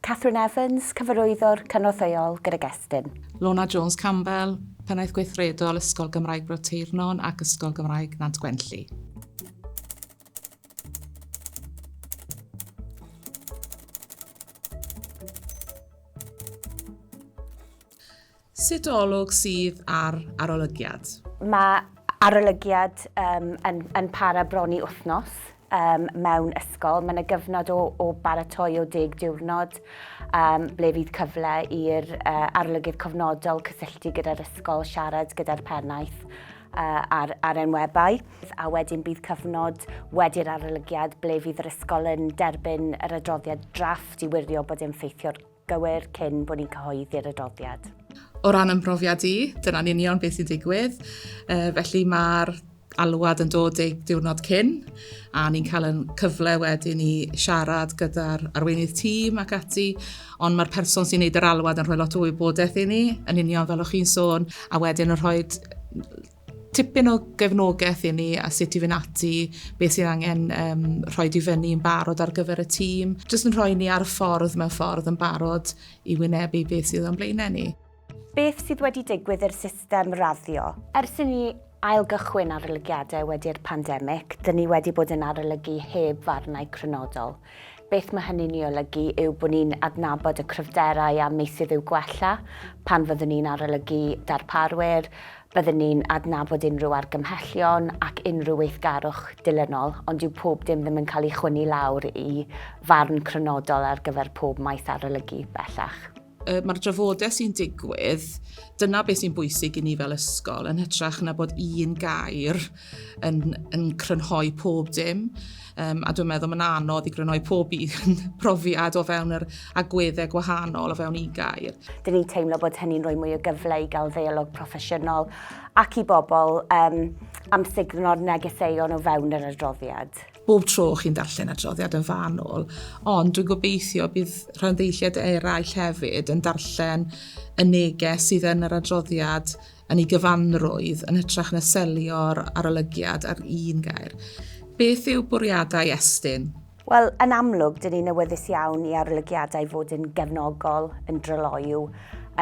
Catherine Evans, Cyfarwyddwr Cynorthwyol gydag Estyn. Lorna Jones Campbell, Pennaeth Gweithredol Ysgol Gymraeg Bro Teirnon ac Ysgol Gymraeg Nant Gwenlli. Sut olwg sydd ar arolygiad? Mae arolygiad yn para bron i wythnos mewn ysgol. Mae yna gyfnod o baratoi o deg diwrnod ble fydd cyfle i'r arolygydd cofnodol cysylltu gyda'r ysgol, siarad gyda'r pennaeth ar enwebau. A wedyn bydd cyfnod wedi'r arolygiad ble fydd yr ysgol yn derbyn yr adroddiad drafft i wirio bod e'n ffeithio'r gywir cyn bod ni'n cyhoeddi'r adroddiad. O ran yn mhrofiad i, dyna'n union beth sy'n digwydd. Uh, felly mae'r alwad yn dod ei diwrnod cyn a ni'n cael yn cyfle wedyn i siarad gyda'r arweinydd tîm ac ati, ond mae'r person sy'n neud yr alwad yn rhoi lot o wybodaeth i ni, yn union fel o'ch chi'n sôn, a wedyn yn rhoi Tipyn o gefnogaeth i ni a sut i fynd ati, beth sydd angen um, rhoi di fyny yn barod ar gyfer y tîm. Jyst yn rhoi ni ar y ffordd mewn ffordd yn barod i wynebu beth sydd o'n blaenau ni. Beth sydd wedi digwydd i'r system raddio? Ers i ni ailgychwyn arolygiadau wedi'r pandemig, dyn ni wedi bod yn arolygu heb farnau crynodol. Beth mae hynny'n ei olygu yw bod ni'n adnabod y cryfderau a meysydd i'w gwella. Pan fyddwn ni'n arolygu darparwyr, byddwn ni'n adnabod unrhyw argymhellion ac unrhyw weithgarwch dilynol, ond dyw pob dim ddim yn cael ei chwynnu lawr i farn crynodol ar gyfer pob maes arolygu, bellach. y mae'r drafodaeth sy'n digwydd, dyna beth sy'n bwysig i ni fel ysgol, yn hytrach na bod un gair yn, yn crynhoi pob dim. Um, a dwi'n meddwl mae'n anodd i grynhoi pob un profiad o fewn yr agweddau gwahanol o fewn un gair. Dyn ni'n teimlo bod hynny'n rhoi mwy o gyfle i gael ddeialog proffesiynol ac i bobl um, am signo'r negeseuon o fewn yr adroddiad. bob tro chi'n darllen adroddiad yn fanwl, ond dwi'n gobeithio bydd rhanddeilliaid eraill hefyd yn darllen y neges sydd yn yr adroddiad yn ei gyfanrwydd yn hytrach na selio'r arolygiad ar un gair. Beth yw bwriadau Estyn? Wel, yn amlwg, dyn ni'n awyddus iawn i arolygiadau fod yn gefnogol, yn dryloyw,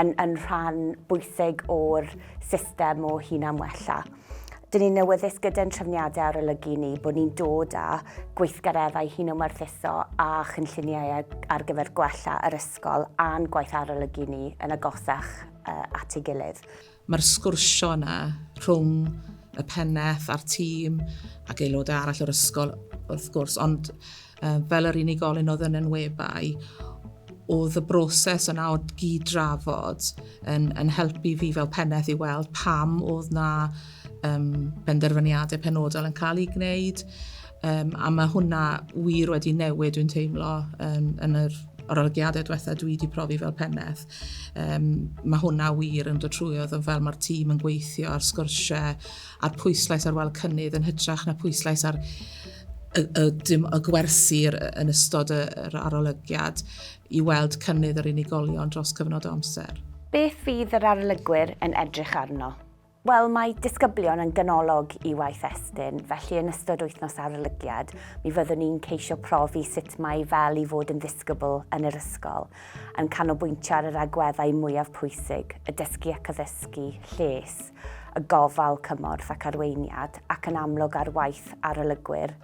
yn, yn rhan bwysig o'r system o hunan-wella. Dyn ni'n awyddus gyda'n trefniadau arolygu ni bod ni'n dod â gweithgareddau hunomarthuso a chynlluniau ar gyfer gwella yr ysgol a'n gwaith arolygu ni yn agosach at ei gilydd. Mae'r sgwrsio yna rhwng y pennaeth a'r tîm ac aelodau arall o'r ysgol wrth gwrs, ond fel yr unigolyn oedd yn enwebai, oedd y broses yna o gyd-drafod yn, yn helpu fi fel pennaeth i weld pam oedd na um, benderfyniadau penodol yn cael ei gwneud. Um, a mae hwnna wir wedi newid, dwi'n teimlo, um, yn yr arolygiadau diwethaf dwi wedi profi fel pennaeth. Um, mae hwnna wir yn dod trwy oedd yn fel mae'r tîm yn gweithio ar sgyrsiau, a'r pwyslais ar weld cynnydd yn hytrach na pwyslais ar y, y, dim, y gwersi yn ystod yr arolygiad i weld cynnydd yr unigolion dros cyfnod o amser. Beth fydd yr arolygwyr yn edrych arno? Wel, mae disgyblion yn ganolog i waith Estyn, felly yn ystod wythnos arolygiad, mi fyddwn ni'n ceisio profi sut mae fel i fod yn ddisgybl yn yr ysgol, yn canolbwyntio ar yr agweddau mwyaf pwysig, y dysgu ac addysgu, lles, y gofal cymorth ac arweiniad ac yn amlwg ar waith arolygwyr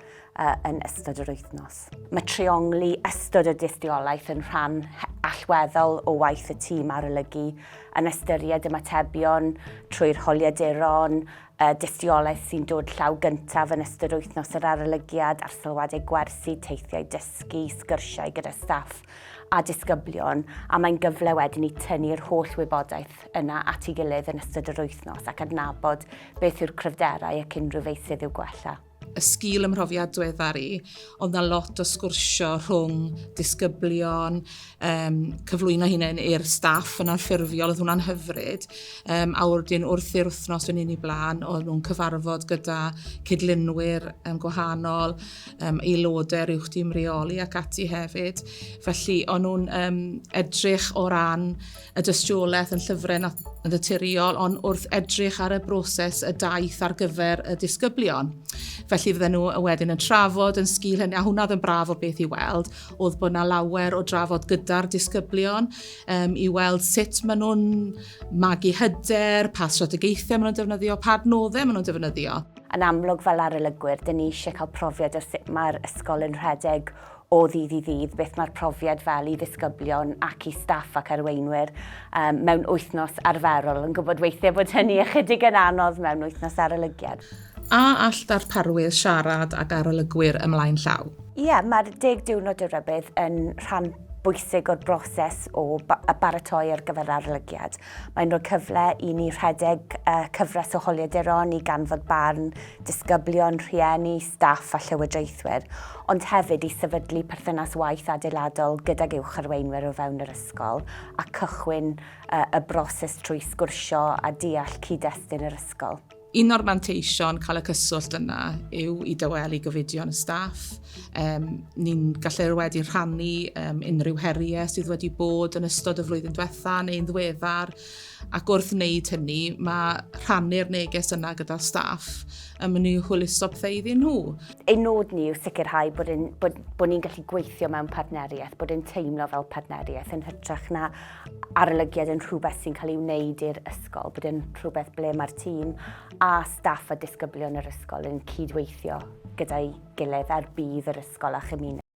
yn ystod yr wythnos. Mae treiongli ystod y dystiolaeth yn rhan allweddol o waith y tîm arolygu yn ystyried ymatebion trwy'r holiaduron, y dystiolaeth sy'n dod llaw gyntaf yn ystod wythnos yr arolygiad a'r sylwadau gwersi, teithiau dysgu, sgyrsiau gyda staff a disgyblion a mae'n gyfle wedyn i tynnu'r holl wybodaeth gwaith yna at ei gilydd yn ystod yr wythnos ac adnabod beth yw'r cryfderau ac unrhyw feysydd i'w gwella. y sgil ym mhrofiad dweddar i, oedd na lot o sgwrsio rhwng disgyblion, um, cyflwyno hunain i'r staff yn anffurfiol, oedd hwnna'n hyfryd. Um, a wrthyn wrth i'r wythnos fynd i blaen, oedd nhw'n cyfarfod gyda cydlunwyr um, gwahanol, um, aelodau uwch dim reoli ac ati hefyd. Felly, o'n nhw'n um, edrych o ran y dystiolaeth yn llyfrau naturiol, ond wrth edrych ar y broses y daith ar gyfer y disgyblion. Felly fydden nhw wedyn yn trafod yn sgil hynny, a hwnna yn braf o beth i weld, oedd bod yna lawer o drafod gyda'r disgyblion um, i weld sut maen nhw'n magu hyder, pa strategaethau maen nhw'n defnyddio, pa adnoddau maen nhw'n defnyddio. Yn amlwg fel arolygwyr, dyn ni eisiau cael profiad o sut mae'r ysgol yn rhedeg o ddydd i ddydd, beth mae'r profiad fel i ddisgyblion ac i staff ac arweinwyr um, mewn wythnos arferol, yn gwybod weithiau bod hynny ychydig yn anodd mewn wythnos arolygiad. A all darparwyr siarad ag arolygwyr ymlaen llaw? Ie, yeah, mae'r deg diwrnod y rybydd yn rhan bwysig o'r broses o y baratoi ar gyfer arolygiad. Mae'n rhoi cyfle i ni rhedeg uh, cyfres o holiaduron i ganfod barn disgyblion, rhieni, staff a llywodraethwyr. ond hefyd i sefydlu perthynas waith adeiladol gydag uwch arweinwyr o fewn yr ysgol a cychwyn y broses trwy sgwrsio a deall cyd-destun yr ysgol. Un o'r manteision cael y cyswllt yna yw i dawelu gofidion y staff. Um, ni'n gallu wedi rhannu um, unrhyw heriau sydd wedi bod yn ystod y flwyddyn diwetha neu'n ddweddar Ac wrth wneud hynny, mae rhannu'r neges yna gyda'r staff yn mynd i hwyluso pethau iddyn nhw. Ein nod ni yw sicrhau bod, yn, bod, bod ni'n gallu gweithio mewn partneriaeth, bod yn teimlo fel partneriaeth yn hytrach na arolygiad yn rhywbeth sy'n cael ei wneud i'r ysgol, bod yn rhywbeth ble mae'r tîm a staff a disgyblion yr ysgol yn cydweithio gyda'i gilydd ar budd yr ysgol a chymuned.